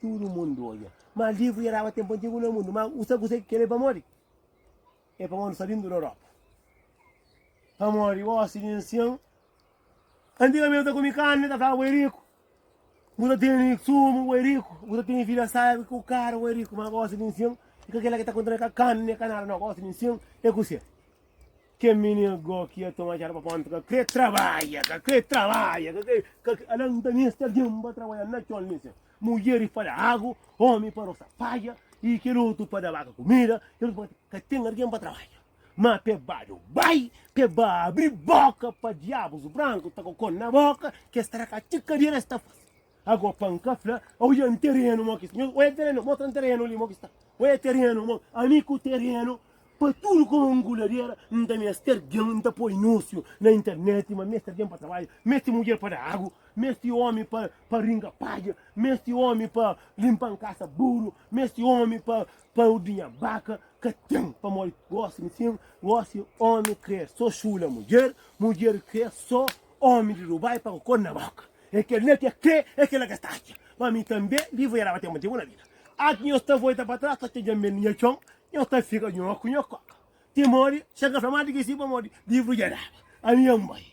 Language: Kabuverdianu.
Tudu mundu odja. Ma livru dja daba tenpu antigu na mundu. Ma u sabe kuzê ki kel-li é pamodi? É pamodi nu sta bindu di Europa. Pamodi gósi di ansion antigamenti ta komi karni, ta flaba bo é riku, bu ta tene sumu, bo é riku, bu ta tene vida sábi, ku karu, bo é riku. Ma gósi di ansion i ka kel-la ki ta kontene ka karni, nen ka nada. Nau, gósi di ansion é kuzê? Kel minina go ki ia toma txada pa ponta ka kre trabadja, ka kre trabadja, ka kre, ka kre, ala nta meste algen pa trabadja na txon li sen. Mudjeri pa da agu, omi pa rosa padja, i kel otu pa da baka kumida, kel otu pa. Ka ten algen pa trabadja. Ma pe ba djo bai, pe ba abri boka pa diabus branku ta kokon na boka, ke sta na ka txi kadera es ta fase. Ago pa N ka fla, oia N terenu mo ki sta. Nhos oia terenu, mostra N terenu li mo ki sta. Oia terenu mo, ami ku terenu, pa tudu komu N ku ladera, N ta mester gen, N ta poi anunsiu na internet ma mester gen pa trabadja, mesti mudjer pa da agu, mesti omi pa pa ringa padja, mesti omi pa limpa N kasa buru, mesti omi pa pa ordinha baka. Ka ten, pamodi gosi N sin, gosi omi kre so xula mudjer, mudjer kre so omi di Dubai pa ku kor na boka. É kel na ke kre, é kel na ke sta atxa. Pa mi tanbe, vivu e raba ten motivu na vida. Antis nhos ta volta pa tras, ta txedja mel nha txon, nhos ta fika nhoku, nhokoka. Ti mori, sen ka fla ma di ki si pa modi, vivu e raba. Ami N bai.